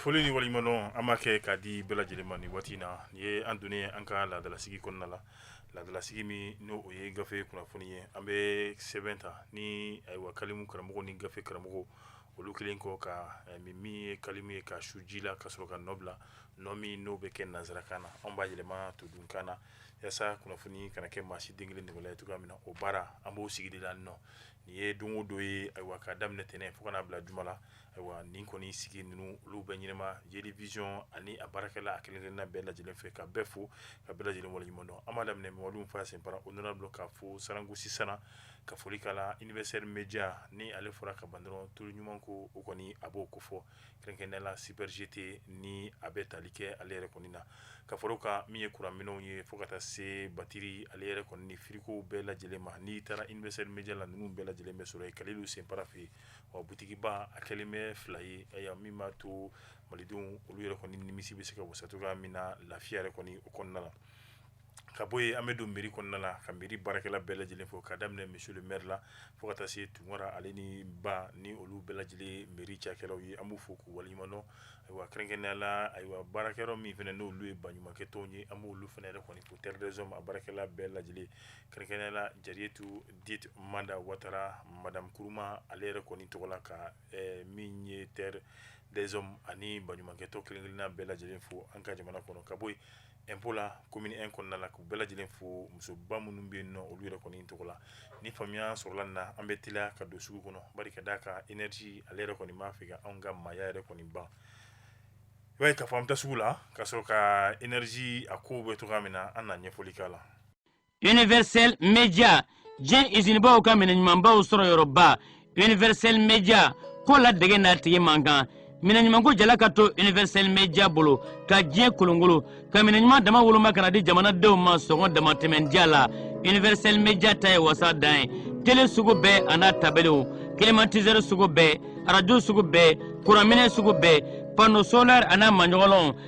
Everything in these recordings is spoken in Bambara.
Foli ni waleɲumandɔn an b'a kɛ k'a di bɛɛ lajɛlen ma waati in na nin ye an donnen ye an ka laadalasigi kɔnɔna la laadalasigi min n'o ye gafe kunnafoni ye an bɛ sɛbɛn ta ni ayiwa kalimu karamɔgɔ ni gafe karamɔgɔ olu kɛlen kɔ ka eh, min min ye kalimu ye ka su ji la ka sɔrɔ ka nɔ bila nɔ min n'o bɛ kɛ nanzarakan na anw b'a yɛlɛma todunkan na yasa kunnafoni kana kɛ maa si den kelen degela ye cogoya min na o baara an b'o sigi de la nɔ nin ye don o don ye ayiwa ka daminɛ tɛnɛn fo ka na bila juma la ayiwa nin kɔni sigi ninnu olu bɛ ɲɛnɛma jeli vision ani a baarakɛla a kelen kelenna bɛɛ lajɛlen fɛ ka bɛɛ fo ka bɛɛ lajɛlen waleɲuman dɔn an b'a daminɛ Mamadu Nfa Senpara honorable ka fo Saran Gosi sana ka foli k'a la universel media ni ale fɔra ka ban dɔrɔn tulu ɲuman ko o kɔni a b'o ko fɔ kɛrɛnkɛrɛnnenya la super GT ni a bɛ tali kɛ ale yɛrɛ kɔni na ka fara o kan min ye kuran minɛnw ye fo ka taa se batiri ale yɛrɛ kɔni ni firigow bɛɛ lajɛlen ma n'i taara universel media la ninnu bɛɛ lajɛlen bɛ sɔrɔ yen Kalilu Senpara fɛ yen wa butikiba a kɛlen bɛ fila ye aya min b'a to malidenw olu yɛrɛ kɔni nimisi bɛ se ka wasa cogoya min na lafiya yɛrɛ kɔni o kɔnɔna na ka bɔ yen an bɛ don mairie kɔnɔna la ka mairie baarakɛla bɛɛ lajɛlen fo ka daminɛ monsieur le maire la fo ka taa se Tunkara ale ni Ba ni olu bɛɛ lajɛlen mairie cakɛlaw ye an b'u fo k'u waleɲumandɔn ayiwa kɛrɛnkɛrɛnnenya la ayiwa baarakɛyɔrɔ min fana n'olu ye baɲumankɛtɔnw ye an b'olu fana yɛrɛ kɔni ko terre des hommes a baarakɛla bɛɛ lajɛlen kɛrɛnkɛrɛnnenya la Jariyetu Dite Manda Watara madame Kuruma ale yɛrɛ kɔni tɔgɔ la ka eh, min ye terre des hommes ani baɲumankɛtɔn kelen-kelenna bɛɛ lajɛlen fo an ka jamana kɔnɔ ka bɔ yen impôt la commune un kɔnɔna la k'u bɛɛ lajɛlen fo musoba minnu bɛ yen nɔ olu yɛrɛ kɔni tɔgɔ la ni faamuya sɔrɔla na an bɛ teliya ka don sugu kɔnɔ bari k'a d'a kan énergie ale yɛrɛ kɔni b'a fɛ anw ka maaya yɛrɛ kɔni ban i b'a ye ka fɔ an bɛ taa sugu la ka sɔrɔ ka énergie a ko bɛ cogoya min na an na ɲɛfɔli k'a la universel media diɲɛ izinibaw ka minɛ ɲumanbaw sɔrɔ yɔrɔba universel media ko ladege n'a tigi man kan minɛ ɲumanko jala ka to universel media bolo ka diɲɛ kolonkolon ka minɛ ɲuman dama woloma ka na di jamanadenw ma sɔngɔ damatɛmɛndiya la universel media ta ye wasa dan ye tele sugu bɛɛ an'a tabelew climatiseur sugu bɛɛ arajo sugu bɛɛ kuranminɛ sugu bɛɛ panneau solaire an'a maɲɔgɔnlɔnw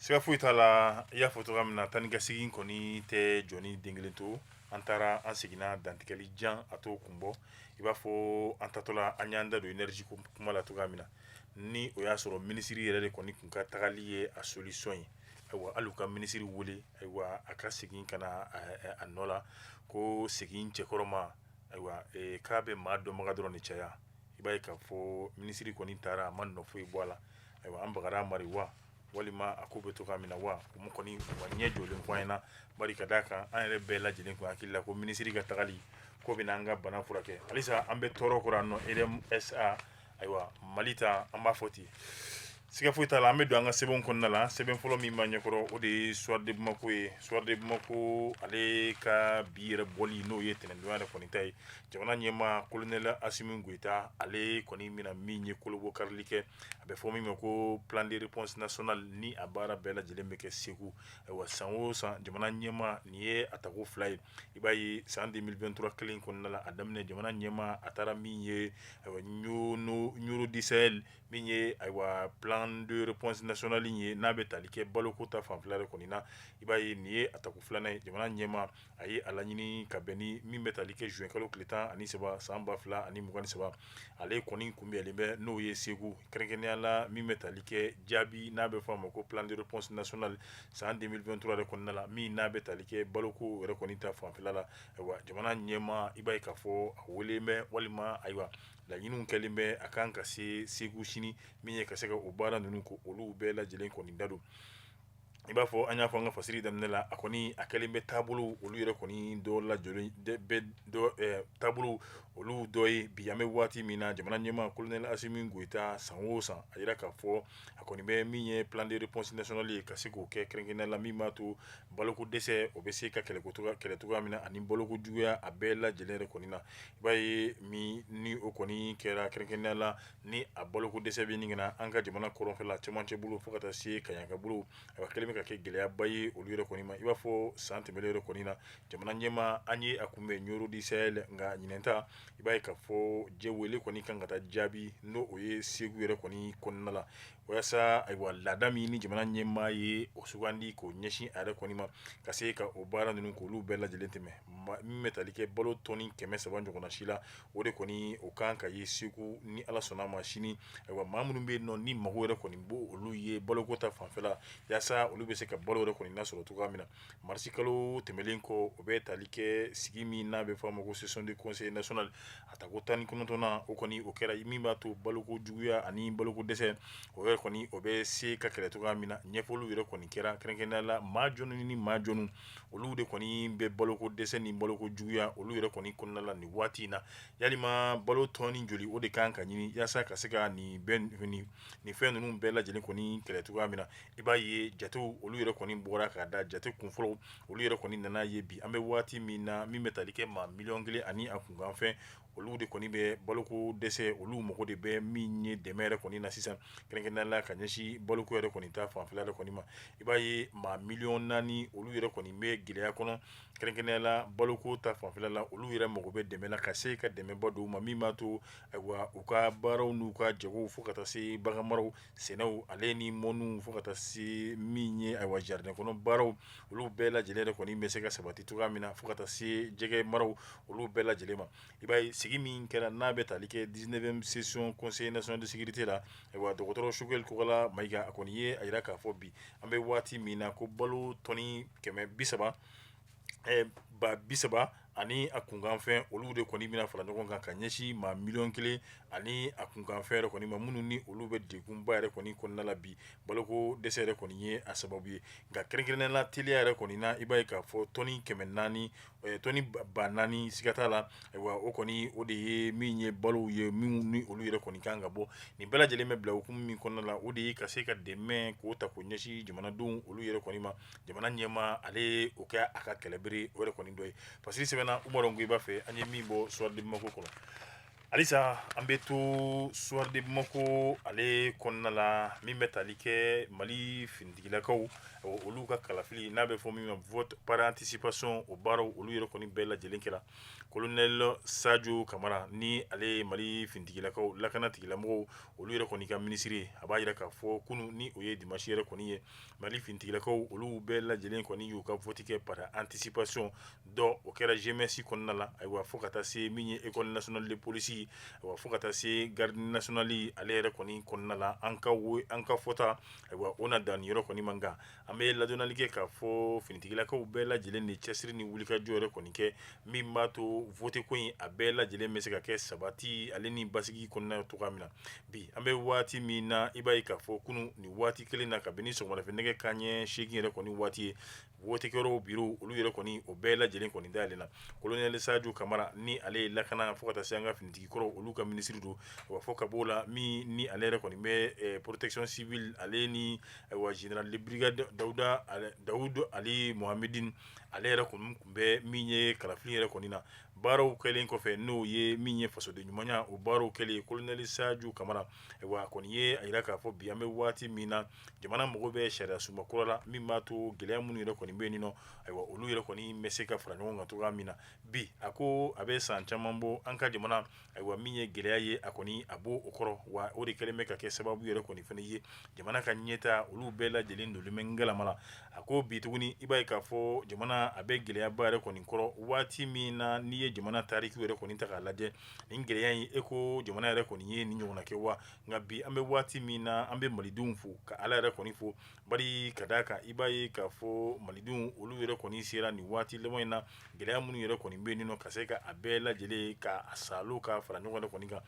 Siga foyi t'a la i y'a fɔ cogoya min na taa ni ka segin kɔni tɛ jɔn den kelen to an taara an seginna dantigɛli jan a t'o kun bɔ i b'a fɔ an taatɔla an y'an da don énergie kuma la cogoya min na ni o y'a sɔrɔ minisiri yɛrɛ de kɔni tun ka tagali ye a solution ye ayiwa hali ka minisiri weele ayiwa a ka segin ka na a nɔ la ko segin cɛkɔrɔ ma ayiwa k'a bɛ maa dɔnbaga dɔrɔn ni caya i b'a ka fɔ minisiri kɔni taara a ma nɔ foyi bɔ a la ayiwa an bakarijan amaduri wa walima a ko bɛ to min na wa u kɔni ɲɛ jɔlen fɔ in na ka d'a kan an yɛrɛ bɛɛ lajɛlen ko hakili la ko minisiri ka tagali ko bɛna an ka bana furakɛ halisa an bɛ tɔɔrɔ kuran nɔ EDM SA ayiwa mali ta an b'a fɔ ten siga foyi t'a la an bɛ don an ka sɛbɛn kɔnɔna la sɛbɛn fɔlɔ min b'an ɲɛkɔrɔ o de ye soir de bamako ye soir de bamako ale ka bi yɛrɛ bɔli n'o ye tɛnɛndon a yɛrɛ kɔni ta ye jamana ɲɛmaa kolonɛli asimi goyita ale kɔni bɛna min ye kolobɔkarili kɛ a bɛ fɔ min ma ko plan de réponse national ni a baara bɛɛ lajɛlen bɛ kɛ segu ayiwa san o san jamana ɲɛmaa nin ye a tako fila ye i b'a ye san 2023 kelen kɔnɔna la a daminɛ jamana ɲɛmaa a taara min ye ayiwa nioro du sahel min ye ayiwa plan de réponse national ye n'a bɛ tali kɛ baloko ta fanfɛla de kɔni na i b'a ye nin ye a tako filanan ye jamana ɲɛmaa a ye a laɲini ka bɛn ni min bɛ tali kɛ juin kalo tile 13 san 2023 ale kɔni kunbɛnlen bɛ n'o ye Segu kɛrɛnkɛrɛnnenya la min bɛ tali kɛ jaabi n'a bɛ fɔ a ma ko plan de réponse national san 2023 yɛrɛ kɔnɔna la min n'a bɛ tali kɛ baloko yɛrɛ kɔni ta fanfɛla la ayiwa jamana ɲɛmaa i b'a ye k'a fɔ a weelelen bɛ walima ayiwa laɲiniw kɛlen bɛ a kan ka se Segu sini min ye ka se ka o baara ninnu k'olu bɛɛ lajɛlen kɔni da don i b'a fɔ an y'a fɔ an ka fasiri daminɛ la a kɔni a kɛlen bɛ taabolo olu yɛrɛ kɔni dɔ lajɔlen bɛ dɔ taabolo olu dɔ ye bi an bɛ waati min na jamana ɲɛmaa kolonɛli Asimi Goyita san o san a yira k'a fɔ a kɔni bɛ min ye plan de réponse national ye ka se k'o kɛ kɛrɛnkɛrɛnnenya la min b'a to baloko dɛsɛ o bɛ se ka kɛlɛ cogoya min na ani baloko juguya a bɛɛ lajɛlen yɛrɛ kɔni na i b'a ye min ni o kɔni kɛra kɛrɛnkɛrɛnnenya la ni a baloko dɛsɛ bɛ ɲini na an ka jamana kɔrɔnfɛla cɛmancɛ bolo fo ka taa se kaɲaka bolo a kɛlen bɛ ka kɛ gɛlɛyaba ye olu yɛrɛ kɔni ma i b'a fɔ san tɛmɛnen yɛrɛ kɔni na jamana ɲɛmaa an ye a kunbɛn nioro du sahel nka ɲinɛn ta i b'a ye k'a fɔ jɛ wele kɔni kan ka taa jaabi n'o o ye segu yɛrɛ kɔni kɔnɔna la walasa ayiwa laada min ni jamana ɲɛmaa ye o sugandi k'o ɲɛsin a yɛrɛ kɔni ma ka se ka o baara ninnu k'olu bɛɛ lajɛlen tɛmɛ min bɛ tali kɛ balo tɔni kɛmɛ saba ɲɔgɔnna si la o de kɔni o kan ka ye segu ni ala sɔnna ma sini ayiwa maa minnu bɛ nɔ ni mago yɛrɛ kɔni bɔ olu ye baloko ta fanfɛla yaasa olu bɛ se ka balo yɛrɛ kɔni lasɔrɔ cogoya min na marisi kalo tɛmɛnlen kɔ o bɛ tali kɛ sigi min n'a bɛ fɔ a ma ko session du conseil national a tako tan ni kɔnɔntɔnnan o kɔni o kɛra min b'a to baloko juguya ani baloko dɛsɛ o yɛrɛ kɔni o bɛ se ka kɛlɛ cogoya min na ɲɛfɔliw yɛrɛ kɔni kɛra kɛrɛnkɛrɛnnenya la maa jɔnnu ni maa jɔnnu olu de kɔni bɛ baloko dɛsɛ ni baloko juguya olu yɛrɛ kɔni kɔnɔna la nin waati in na yalima balo tɔni joli o de kan ka ɲini yaasa ka se ka nin fɛn ninnu bɛɛ lajɛlen kɔni kɛlɛ cogoya min na i b'a ye jatew olu yɛrɛ kɔni bɔra k'a da jate kunfɔlɔw olu yɛrɛ kɔni nana ye bi an bɛ waati min na min bɛ tali kɛ maa miliyɔn kelen ani a kunkanfɛn olu de kɔni bɛ baloko dɛsɛ olu mago de bɛ min ye dɛmɛ yɛrɛ kɔni na sisan kɛrɛnkɛrɛnnenya la ka ɲɛsin baloko yɛrɛ kɔni ta fanfɛla yɛrɛ kɔni ma i b'a ye maa miliyɔn naani olu yɛrɛ kɔni bɛ gɛlɛya kɔnɔ kɛrɛnkɛrɛnnenya la baloko ta fanfɛla la olu yɛrɛ mago bɛ dɛmɛ na ka se ka dɛmɛba don u ma min b'a to ayiwa u ka baaraw n'u ka jagow fo ka taa se baganmaraw sɛnɛw ale ni mɔnniw fo ka taa se min ye ayiwa jardin kɔnɔ baaraw olu bɛɛ lajɛlen yɛrɛ kɔni bɛ se ka sabati cogoya min na fo ka taa se jɛgɛ maraw olu bɛɛ lajɛlen ma i b'a ye sigi min kɛra n'a bɛ tali kɛ dix-neuvième session conseil national de sécurité la ayiwa dɔgɔtɔrɔ Choguel Kokalla Maïga a kɔni ye a jira k'a fɔ bi an bɛ waati min na ko balo tɔni kɛmɛ bi saba ba bi saba ani a kunkanfɛn olu de kɔni bɛna fara ɲɔgɔn kan ka ɲɛsin maa miliyɔn kelen ani a kunkanfɛn yɛrɛ kɔni ma minnu ni olu bɛ degunba yɛrɛ kɔni kɔnɔna la bi baloko dɛsɛ yɛrɛ kɔni ye a sababu ye nka kɛrɛnkɛrɛnnenya la teliya yɛrɛ kɔni na i b'a ye k'a fɔ tɔni kɛmɛ naani ba naani siga t'a la ayiwa o kɔni o de ye min ye balow ye minnu ni olu yɛrɛ kɔni kan ka bɔ nin bɛɛ lajɛlen bɛ bila hukumu min kɔnɔna la o de ye ka se ka dɛmɛ k'o ta k'o ɲɛsin jamanadenw olu yɛrɛ kɔni ma jamana ɲɛmaa ale o kɛ a ka kɛlɛbere o yɛrɛ kɔni dɔ ye parce que sɛbɛnna u ko i b'a fɛ an ye min bɔ Soir de Bamako kɔnɔ halisa an bɛ to Soir de Bamako ale kɔnɔna la min bɛ tali kɛ mali finitigilakaw olu ka kalafili n'a bɛ fɔ min ma vote par anticipation o baaraw olu yɛrɛ kɔni bɛɛ lajɛlen kɛra colonel Sajo Kamara ni ale ye Mali finitigilakaw lakana tigilamɔgɔw olu yɛrɛ kɔni ka minisiri ye a b'a jira k'a fɔ kunu ni o ye dimanche yɛrɛ kɔni ye Mali finitigilakaw olu bɛɛ lajɛlen kɔni y'u ka vote kɛ par anticipation dɔ o kɛra GMS kɔnɔna la ayiwa fo ka taa se min ye école nationale de police ayiwa fo ka taa se garde nationale ale yɛrɛ kɔni kɔnɔna la an ka fɔta ayiwa o na dan nin yɛrɛ kɔni man kan an bɛ ladɔnnali kɛ k'a fɔ finitigilakaw bɛɛ lajɛlen ye cɛsiri ni wulikajɔ yɛrɛ kɔni kɛ min b'a to vote ko in a bɛɛ lajɛlen bɛ se ka kɛ sabati ale ni basigi kɔnɔna cogoya min na Bi an bɛ waati min na i b'a ye k'a fɔ kunun nin waati kelen na kabini sɔgɔmada fɛ nɛgɛ kanɲɛ seegin yɛrɛ kɔni waati ye wotekɛyɔrɔw biro olu yɛrɛ kɔni o bɛɛ lajɛlen kɔni dayɛlɛnna kolonɛli Sajo Kamara ni ale ye lakana fo ka taa se an ka finitigikɔrɔ olu ka minisiri don wa fo ka bɔ o la min ni ale yɛrɛ kɔni bɛ protection civile ale ni ayiwa général de brigade Daoud Aly Mohammedine ale yɛrɛ kɔni tun bɛ min ye kalafili yɛrɛ kɔni na baaraw kɛlen kɔfɛ n'o ye min ye fasoden ɲumanya o baaraw kɛlen kolonɛli Sajo Kamara ayiwa a kɔni ye a jira k'a fɔ bi an bɛ waati min na jamana mago bɛ sariya sunba kura la min b'a to gɛlɛya minnu yɛrɛ kɔni bɛ yen nɔ ayiwa olu yɛrɛ kɔni bɛ se ka fara ɲɔgɔn kan cogoya min na bi a ko a bɛ san caman bɔ an ka jamana Ayiwa min ye gɛlɛya ye a kɔni a b'o o kɔrɔ wa o de kɛlen bɛ ka kɛ sababu yɛrɛ kɔni fana ye jamana ka ɲɛta olu bɛɛ lajɛlen donnen bɛ galama la a ko bi tuguni i b'a ye k'a fɔ jamana a bɛ gɛlɛyaba yɛrɛ kɔni kɔrɔ waati min na n'i ye jamana tariki yɛrɛ kɔni ta k'a lajɛ nin gɛlɛya in e ko jamana yɛrɛ kɔni ye nin ɲɔgɔnna kɛ wa nka bi an bɛ waati min na an bɛ malidenw fo ka ala yɛrɛ kɔni fo Bari ka d'a kan i b'a ye k'a fɔ malidenw olu yɛrɛ kɔni sera nin waati laban in na gɛlɛya minnu yɛrɛ kɔni bɛ yen nɔ ka se ka a bɛɛ lajɛlen ka a salo ka fara ɲɔgɔn yɛrɛ kɔni kan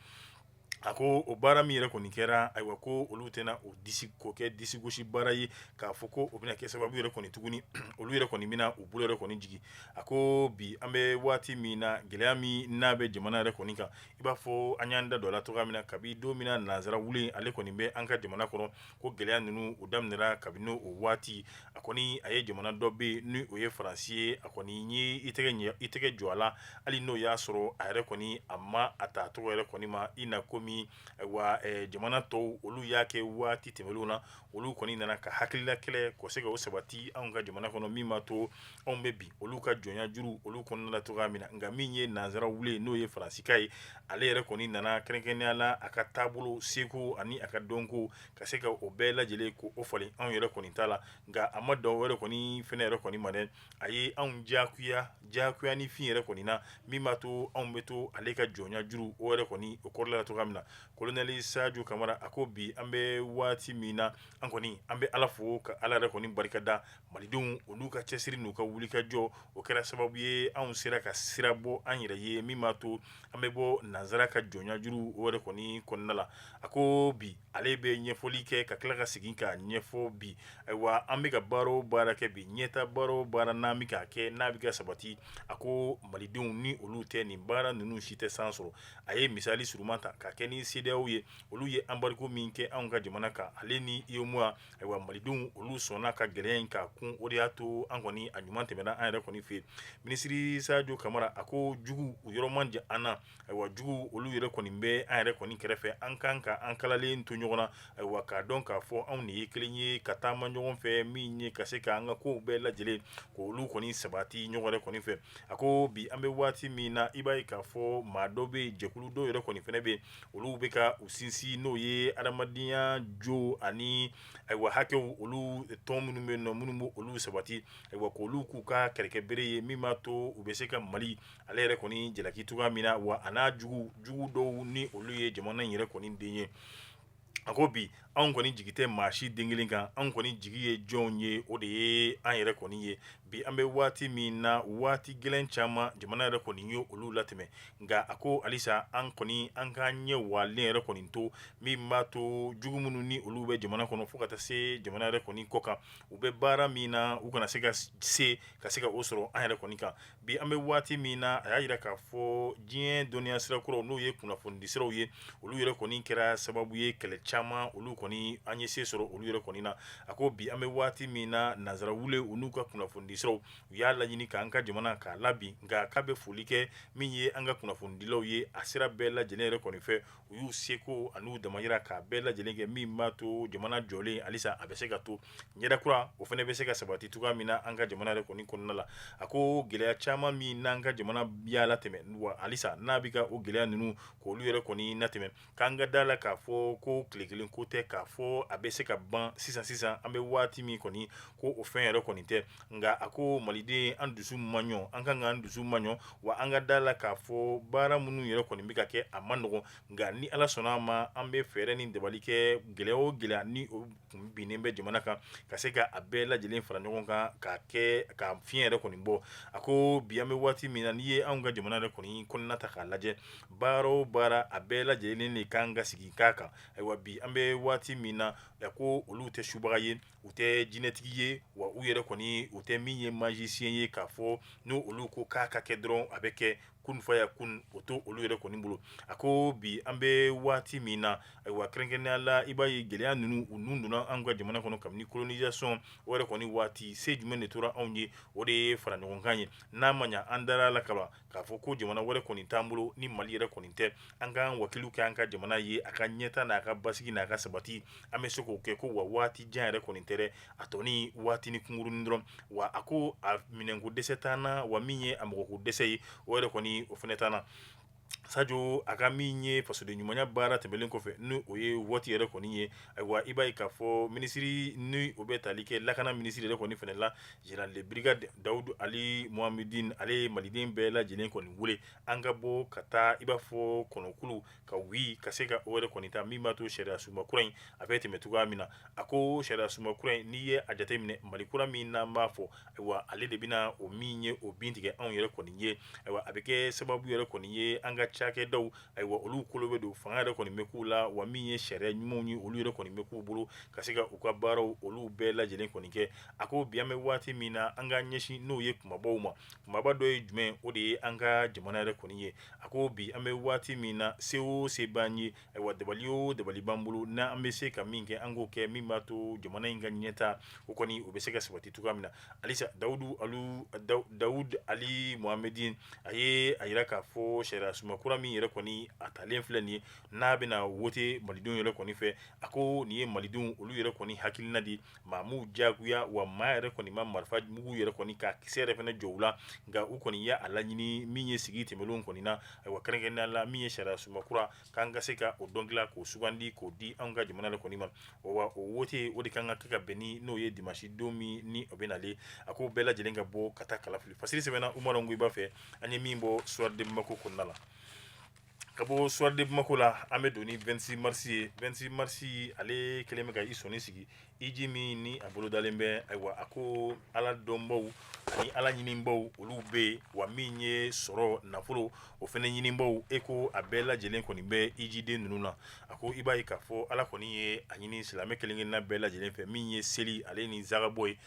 a ko o baara min yɛrɛ kɔni kɛra ayiwa ko olu tɛna o disi k'o kɛ disigosi baara ye k'a fɔ ko o bɛna kɛ sababu yɛrɛ kɔni tuguni olu yɛrɛ kɔni bɛna u bolo yɛrɛ kɔni jigin a ko bi an bɛ waati min na gɛlɛya min n'a bɛ jamana yɛrɛ kɔni kan i b'a fɔ an y'an da don a la cogoya min na kabi don min na nansara wulen ale kɔni bɛ an ka jamana kɔnɔ ko gɛlɛya ninnu o daminɛra kabini o waati a kɔni a ye jamana dɔ bɛ ni o ye faransi ye a kɔni ye i ɲɛ i tɛgɛ jɔ a la hali n'o y'a sɔrɔ a yɛrɛ kɔni a ma a ta tɔgɔ yɛrɛ kɔni ma i na komi ayiwa jamana tɔw olu y'a kɛ waati tɛmɛnenw na olu kɔni nana ka hakilila kɛlɛ ka se ka o sabati an ka jamana kɔnɔ min b'a to anw bɛ bin olu ka jɔnya juru olu kɔnɔna la cogoya min na nka min ye nanzara wulen n'o ye faransika ye ale yɛrɛ kɔni nana kɛrɛnkɛrɛnnenya la a ka taabolo seko ani a ka dɔnko ka se ka o bɛɛ lajɛlen ka o falen anw yɛrɛ kɔni ta la nka a ma dan o yɛrɛ kɔni fɛnɛ yɛrɛ kɔni ma dɛ a ye anw jagoya ni fɛn yɛrɛ kɔni na min b'a to anw bɛ to ale ka jɔnya juru o yɛrɛ kɔni o kɔrɔla la cogoya min na kolonɛli sajo kamara a ko bi an bɛ waati min na an kɔni an bɛ ala fo ka ala yɛrɛ kɔni barika da Malidenw olu ka cɛsiri n'u ka wulikajɔ o kɛra sababu ye anw sera ka sira bɔ an yɛrɛ ye min b'a to an bɛ bɔ nanzara ka jɔnya juru o yɛrɛ kɔni kɔnɔna la a ko bi ale bɛ ɲɛfɔli kɛ ka tila ka segin k'a ɲɛfɔ bi ayiwa an bɛ ka baara o baara kɛ bi ɲɛta baara o baara n'an bɛ k'a kɛ n'a bɛ ka sabati a ko malidenw ni olu tɛ nin baara ninnu si tɛ san sɔrɔ a ye misali surunman ta k'a kɛ ni CEDEAO ye olu ye embargo min kɛ anw ka jamana kan ale ni UEMOA Ayiwa malidenw olu sɔnna ka gɛlɛya in k'a kun o de y'a to an kɔni a ɲuman tɛmɛna an yɛrɛ kɔni fɛ yen minisiri sajo kamara a ko jugu u yɔrɔ man jan an na ayiwa jugu olu yɛrɛ kɔni bɛ an yɛrɛ kɔni kɛrɛfɛ an kan ka an kalalen to ɲɔgɔn na ayiwa k'a dɔn k'a fɔ anw de ye kelen ye ka taama ɲɔgɔn fɛ min ye ka se k' an ka kow bɛɛ lajɛlen k'olu kɔni sabati ɲɔgɔn yɛrɛ kɔni fɛ a ko bi an bɛ waati min na i b'a ye k'a fɔ maa dɔ bɛ jɛkulu dɔw yɛrɛ kɔni fana bɛ yen olu bɛ ka u sinsin n'o ye adamadenya jo ani ayiwa hakɛw olu tɔn minnu bɛ nɔ minnu bɛ olu sabati ayiwa k'olu k'u ka kɛlɛkɛbere ye min b'a to u bɛ se ka mali ale yɛrɛ kɔni jalaki cogoya min na wa a n'a jugu jugu dɔw ni olu ye jamana in yɛrɛ kɔni den ye a ko bi anw kɔni jigi tɛ maa si den kelen kan anw kɔni jigi ye jɔnw ye o de ye an yɛrɛ kɔni ye bi an bɛ waati min na waati gɛlɛn caman jamana yɛrɛ kɔni ye olu latɛmɛ nka a ko halisa an kɔni an k'an ɲɛ walen yɛrɛ kɔni to min b'a to jugu minnu ni olu bɛ jamana kɔnɔ fo ka taa se jamana yɛrɛ kɔni kɔ kan u bɛ baara min na u kana se ka se ka se ka o sɔrɔ an yɛrɛ kɔni kan Bi an bɛ waati min na a y'a jira k'a fɔ diɲɛ dɔnniya sira kuraw n'o ye kunnafonidisiraw ye olu yɛrɛ kɔni kɛra sababu ye kɛlɛ caman olu kɔni an ye se sɔrɔ olu yɛrɛ kɔni na a ko bi an bɛ waati min na nanzara wulen u n'u ka kunnafonidisiraw u y'a laɲini k'an ka jamana k'a labin nka a k'a bɛ foli kɛ min ye an ka kunnafonidilaw ye a sira bɛɛ lajɛlen yɛrɛ kɔni fɛ u y'u seko an'u damayira k'a bɛɛ lajɛlen kɛ min b'a to jamana jɔlen halisa a bɛ se ka to ɲɛda kura o fana bɛ se ka sabati cogoya min na an ka jamana yɛrɛ kɔni kɔnɔna la a ko gɛlɛya caman min n'an ka jamana y'a latɛmɛ wa halisa n'a bɛ ka o gɛlɛya ninnu k'olu yɛrɛ kɔni latɛmɛ k'an ka da la k'a fɔ ko tile kelen ko tɛ k'a fɔ a bɛ se ka ban sisan sisan an bɛ waati min kɔni ko o fɛn yɛrɛ kɔni tɛ nka a ko maliden an dusu maɲɔ an kan k'an dusu maɲɔ wa an ka da la k'a fɔ baara minnu yɛrɛ kɔni bɛ ka kɛ a man nɔgɔn nka ni ala sɔnna a ma an bɛ fɛɛrɛ ni dabali kɛ gɛlɛya o gɛlɛya ni binnen bɛ jamana kan ka se k'a bɛɛ lajɛlen fara ɲɔgɔn kan ka kɛ ka fiɲɛ yɛrɛ kɔni bɔ a ko bi an bɛ waati min na n'i ye anw ka jamana yɛrɛ kɔni kɔnɔna ta k'a lajɛ baara o baara a bɛɛ lajɛlen de kan ka sigi k'a kan ayiwa bi an bɛ waati min na ko olu tɛ subaga ye u tɛ jinɛtigi ye wa u yɛrɛ kɔni u tɛ min ye magicien ye k'a fɔ ni olu ko k'a ka kɛ dɔrɔn a bɛ kɛ kun fa yakun o t'olu yɛrɛ kɔni bolo a ko bi an bɛ waati min na ayiwa kɛrɛnkɛrɛnnenya la i b'a ye gɛlɛya ninnu u nun donna an ka jamana kɔnɔ kabini colonisation o yɛrɛ kɔni waati se jumɛn de tora anw ye o de ye fara ɲɔgɔn kan ye n'a ma ɲɛ an dara la kaban k'a fɔ ko jamana wɛrɛ kɔni t'an bolo ni mali yɛrɛ kɔni tɛ an k'an wakilu kɛ an ka jamana ye a ka ɲɛta n'a ka basigi n'a ka sabati an bɛ se k'o kɛ ko wa waati jan yɛrɛ kɔni tɛ dɛ a tɔ ni waatinin kunkurunin dɔrɔn wa a ko a minɛnko dɛsɛ t'an na wa min ye a mɔgɔko dɛsɛ ye o yɛrɛ kɔni o fana t'an na Sadio a ka min ye fasoden ɲumanya baara tɛmɛlen kɔfɛ ni o ye wote yɛrɛ kɔni ye ayiwa i b'a ye k'a fɔ minisiri ni o bɛ tali kɛ lakana minisiri yɛrɛ kɔni fana la Général de brigade Dawudu Ali Mohamedine ale ye maliden bɛɛ lajɛlen kɔni wele an ka bɔ ka taa i b'a fɔ kɔnɔkulu ka wuli ka se ka o yɛrɛ kɔni ta min b'a to sariya sunba kura in a bɛ tɛmɛ cogoya min na a ko sariya sunba kura in n'i ye a jateminɛ Mali kura min n'an b'a fɔ ayiwa ale de bɛna o min ye o bin tigɛ anw yɛrɛ kɔni ye ayiwa a bɛ kɛ sababu yɛrɛ kɔni ye an ka cakɛdaw Ayiwa olu kolo bɛ don fanga yɛrɛ kɔni bɛ k'u la wa min ye sariya ɲumanw ye olu yɛrɛ kɔni bɛ k'u bolo ka se ka u ka baaraw olu bɛɛ lajɛlen kɔni kɛ a ko bi an bɛ waati min na an ka ɲɛsin n'o ye kumabaw ma kumaba dɔ ye jumɛn o de ye an ka jamana yɛrɛ kɔni ye a ko bi an bɛ waati min na se o se b'an ye ayiwa dabali o dabali b'an bolo n' an bɛ se ka min kɛ an k'o kɛ min b'a to jamana in ka ɲɛtaa o kɔni o bɛ se ka sabati cogoya min na Alisa dawudu ali mohamɛdini a ye a jira k'a fɔ sariya sunba kura min yɛrɛ kɔni a talen filɛ nin ye n'a bɛna wote malidenw yɛrɛ kɔni fɛ a ko nin ye malidenw olu yɛrɛ kɔni hakilina di maa m'u diyagoya wa maa yɛrɛ kɔni ma marifa mugu yɛrɛ kɔni ka kisɛ yɛrɛ fana jɔ u la nka u kɔni ye a laɲini min ye sigi tɛmɛnenw kɔni na ayiwa kɛrɛnkɛrɛnnenya la min ye sariya sunba kura k'an ka se ka o dɔn dilan k'o sugandi k'o di an ka jamana de kɔni ma wa o wote o de kan ka kɛ ka bɛn ni n'o ye dimasi don min ni o bɛ nalen a ko bɛɛ lajɛlen ka bɔ ka taa kalafili fasiri sɛbɛnna umaru ongoyiba fɛ an ye min bɔ soir de bamako kɔnɔna la ka bɔ soir de bamako la an bɛ don ni 26 mars ye 26 mars ale kɛlen bɛ ka i sɔnni sigi iji min ni a bolodalen bɛ ayiwa a ko ala dɔnbaw ani ala ɲinibaw olu bɛ yen wa min ye sɔrɔ nafolo o fana ɲinibaw e ko a bɛɛ lajɛlen kɔni bɛ ijiden ninnu na a ko i b'a ye k'a fɔ ala kɔni ye a ɲini silamɛ kelen-kelenna bɛɛ lajɛlen fɛ min ye seli ale ni zakabɔ ye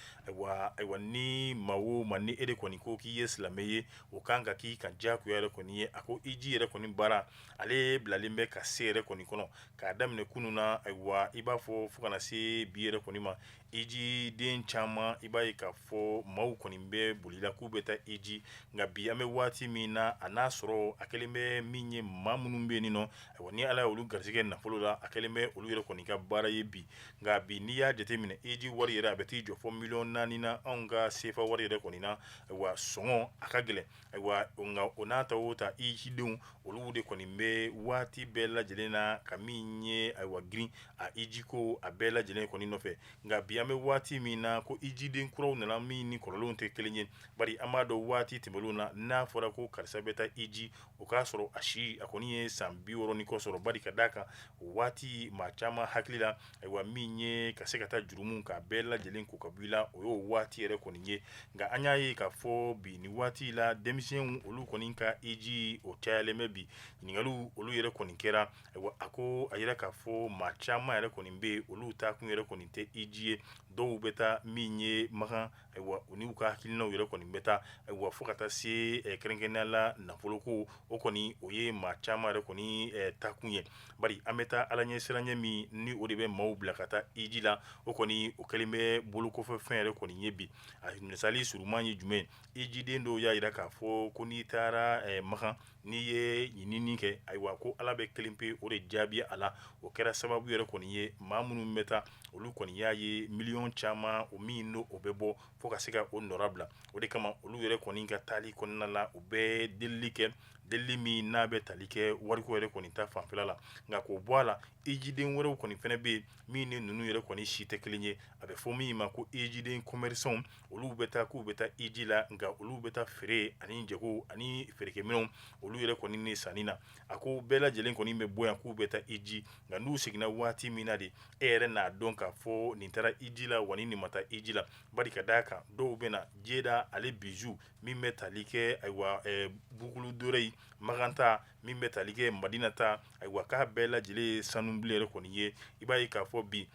ayiwa ni maa o maa ni e de kɔni ko k'i ye silamɛ ye o kan ka k'i kan diyagoya yɛrɛ kɔni ye a ko iji yɛrɛ kɔni baara ale bilalen bɛ ka se yɛrɛ kɔni kɔnɔ k'a daminɛ kunun na ayiwa i b'a fɔ fo ka na se bi yɛrɛ kɔni ma iji den caman i b'a ye k'a fɔ maaw kɔni bɛ bolila k'u bɛ taa iji nka bi an bɛ waati min na a n'a sɔrɔ a kɛlen bɛ min ye maa minnu bɛ yen nɔ a ni ala ye olu garisɛgɛ nafolo la a kɛlen bɛ olu yɛrɛ kɔni ka baara ye bi nka bi n'i y'a jateminɛ iji wari yɛrɛ a bɛ t'i jɔ fo miliyɔn naani na anw ka sefa wari yɛrɛ kɔni na wa sɔngɔ a ka gɛlɛn Ayiwa nka o n'a ta o ta ijidenw olu de kɔni bɛ waati bɛɛ lajɛlen na ka min ye ayiwa girin a ijiko a bɛɛ lajɛlen kɔni nɔfɛ nka bi an bɛ waati min na ko ijiden kuraw nana min ni kɔrɔlenw tɛ kelen ye bari an b'a dɔn waati tɛmɛnenw na n'a fɔra ko karisa bɛ taa iji o k'a sɔrɔ a si a kɔni ye san biwɔɔrɔ ni kɔ sɔrɔ bari ka d'a kan o waati maa caman hakili la ayiwa min ye ka se ka taa jurumu k'a bɛɛ lajɛlen ko ka bɔ i la o y'o waati yɛrɛ kɔni ye nka an y'a ye k'a fɔ bi nin waati la denmisɛnw olu kɔni ka iji o cayalen bɛ bi ɲininkaliw olu yɛrɛ kɔni kɛra ayiwa a ko a yera k'a fɔ maa caman yɛrɛ kɔni bɛ yen olu taakun yɛrɛ kɔni tɛ iji ye dɔw bɛ taa min ye makan ayiwa u n'u ka hakilinaw yɛrɛ kɔni bɛ taa ayiwa fo ka taa se ɛ, kɛrɛnkɛrɛnnenya la nafolo ko o kɔni o ye maa caman yɛrɛ kɔni ɛ, taakun ye bari an bɛ taa ala ɲɛ siranɲɛ min ni o de bɛ maaw bila ka taa hiji la o kɔni o kɛlen bɛ bolokɔfɛfɛn yɛrɛ kɔni ye bi a misali suruman ye jumɛn hijiden dɔw y'a jira k'a fɔ ko n'i taara ɛ, makan n'i ye ɲinini kɛ ayiwa ko ala bɛ kelen pe o de jaabi a la o kɛra sababu yɛrɛ kɔni ye maa minnu bɛ taa olu kɔni y'a ye miliyɔn caman o min n'o o bɛ bɔ fo ka se ka o nɔra bila o de kama olu yɛrɛ kɔni ka taali kɔnɔna la u bɛ delili kɛ delili min n'a bɛ tali kɛ wariko yɛrɛ kɔni ta fanfɛla la nka k'o bɔ a la ijiden wɛrɛw kɔni fɛnɛ bɛ yen min ni ninnu yɛrɛ kɔni si tɛ kelen ye a bɛ fɔ min ma ko ijiden commerçants olu bɛ taa k'u bɛ taa iji la nka olu bɛ taa feere ani jago ani feerekɛminɛnw olu yɛrɛ kɔni ni sanni na a ko bɛɛ lajɛlen kɔni bɛ bɔ yan k'u bɛ taa iji nka n'u seginna waati min na de e yɛrɛ n'a dɔn k'a fɔ nin taara iji la wa ni nin ma taa iji la bari ka d'a kan dɔw bɛ na jeda ale bijoux min bɛ tali kɛ ayiwa boucles d'oreilles makan ta min bɛ tali kɛ madina ta ayiwa k'a bɛɛ lajɛlen ye sanubilen yɛrɛ kɔni ye i b'a ye k'a fɔ bi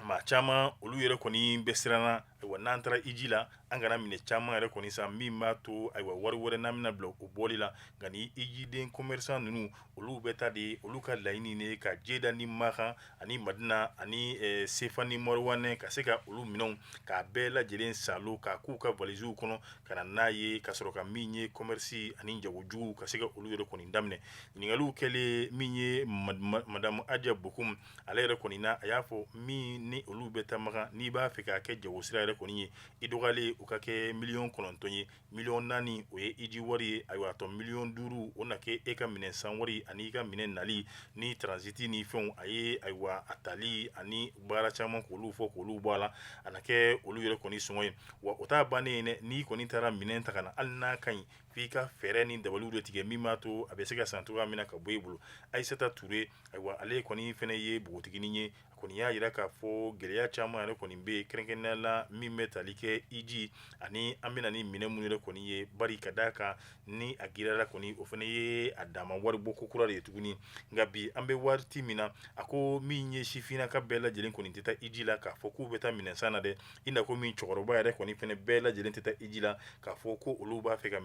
maa caman olu yɛrɛ kɔni bɛ siranna ayiwa n'an taara iji la an kana minɛn caman yɛrɛ kɔni san min b'a to ayiwa wari wɛrɛ n'an bɛna bila o bɔli la nka ni ijiden commerçant ninnu olu bɛ taa de olu ka laɲini de ye ka jeda ni makan ani madina ani eh, sefa ni mɔriwanɛ ka se ka olu minɛnw k'a bɛɛ lajɛlen salo k'a k'u ka valiziw kɔnɔ ka na n'a ye ka sɔrɔ ka min ye commerce ani jagojugu ka se ka olu yɛrɛ kɔni daminɛ ɲininkaliw kɛlen min ye mad- ma- madamu aja bokum ale yɛrɛ kɔni na a y'a fɔ min ni olu bɛ taa makan n'i b'a fɛ k'a kɛ jago sira yɛrɛ kɔni ye i dɔgɔyalen u ka kɛ miliyɔn kɔnɔntɔn ye miliyɔn naani o ye iji wari ye ayiwa a tɔ miliyɔn duuru o na kɛ e ka minɛn san wari ani i ka minɛn nali ni transit ni fɛnw a ye ayiwa a tali ani baara caman k'olu fɔ k'olu bɔ a la a na kɛ olu yɛrɛ kɔni sɔngɔ ye wa o t'a bannen ye dɛ n'i kɔni taara minɛn ta ka na hali n'a ka ɲi f'i ka fɛɛrɛ ni dabaliw de tigɛ min b'a to a bɛ se ka san cogoya min na ka bɔ i bolo Aissata Toure ayiwa ale kɔni fɛnɛ ye bogotiginin ye a kɔni y'a yira k'a fɔ gɛlɛya caman yɛrɛ kɔni bɛ yen kɛrɛnkɛrɛnnenya la min bɛ tali kɛ iji ani an bɛna ni minɛn minnu yɛrɛ kɔni ye bari ka d'a kan ni a giriyara kɔni o fɛnɛ ye a dama waribɔ ko kura de ye tuguni nka bi an bɛ waati min na a ko min ye sifinnaka bɛɛ lajɛlen kɔni tɛ taa iji la k'a fɔ k'u bɛ taa minɛnsan na dɛ i na ko min cɛkɔrɔba yɛrɛ kɔni fɛnɛ bɛɛ lajɛlen tɛ taa iji la k'a fɔ ko olu b'a fɛ ka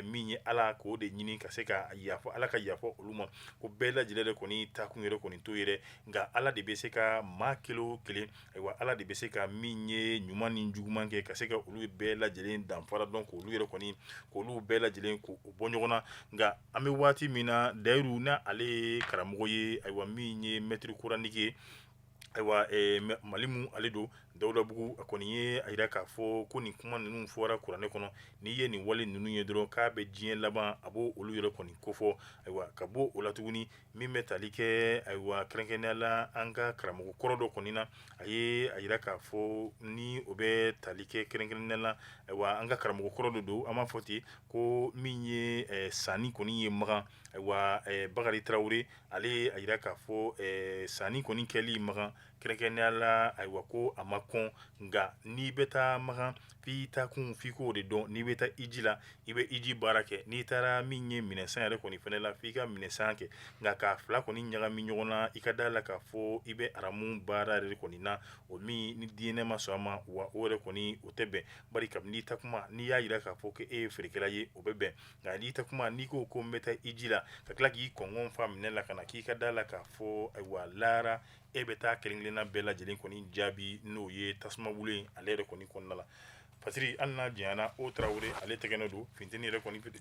min ye ala k'o de ɲini ka se ka yafa ala ka yafa olu ma ko bɛɛ lajɛlen de kɔni taakun yɛrɛ kɔni t'o ye dɛ nka ala de bɛ se ka maa kelen o kelen ayiwa ala de bɛ se ka min ye ɲuman ni juguman kɛ ka se ka olu bɛɛ lajɛlen danfara dɔn k'olu yɛrɛ kɔni k'olu bɛɛ lajɛlen k'u bɔ ɲɔgɔn na nka an bɛ waati min na dayiru na ale ye karamɔgɔ ye ayiwa min ye maître coranique Ayiwa malimu ale don dawudabugu a kɔni ye a jira k'a fɔ ko nin kuma ninnu fɔra kuranɛ kɔnɔ n'i ye nin wale ninnu ye dɔrɔn k'a bɛ diɲɛ laban a b'o olu yɛrɛ kɔni kofɔ ayiwa ka bɔ o la tuguni min bɛ tali kɛ ayiwa kɛrɛnkɛrɛnya la an ka karamɔgɔ kɔrɔ dɔ kɔni na a ye a jira k'a fɔ ni o bɛ tali kɛ kɛrɛnkɛrɛnnenya la ayiwa an ka karamɔgɔ kɔrɔ dɔ don an b'a fɔ ten ko min ye sanni kɔni ye makan ayiwa bakari tarawele ale ye a jira k'a fɔ ɛɛ sanni kɔni kɛli Makan kɛrɛnkɛrɛnnenya la, ayiwa ko a ma kɔn nka n'i bɛ taa Makan f'i taa kun f'i k'o de dɔn, n'i bɛ taa hiji la i bɛ hiji baara kɛ, n'i taara min ye minɛnsan yɛrɛ kɔni fana la f'i ka minɛnsan kɛ nka k'a fila kɔni ɲagami ɲɔgɔn na i ka d'a la k'a fɔ i bɛ aramu baara yɛrɛ de kɔni na, o min ni diinɛ ma sɔn a ma wa o yɛrɛ kɔni o tɛ bɛn, bari kabini i taa kuma n'i y'a jira k'a fɔ k'e ye feerekɛla ye o bɛ bɛn nka n'i taa kuma n'i ko ko n bɛ taa hiji la ka tila k'i kɔn fa minɛn la ka na k'i ka d'a la k'a fɔ ayiwa lara e bɛ taa kelen-kelenna bɛɛ lajɛ lajɛlen kɔni jaabi n'o ye tasuma weele ale yɛrɛ kɔni kɔnɔna la patiri hali n'a janyana o tarawele ale tɛgɛrɛ don funteni yɛrɛ kɔni pte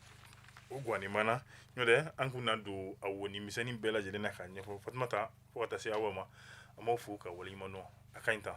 o ganɔni mana n'o tɛ an kun na don a woni misɛnnin bɛɛ lajɛlen na k'a ɲɛfɔ fatumata fo ka taa se aw ma an b'aw fo k'aw waleɲuman dɔn a ka ɲi tan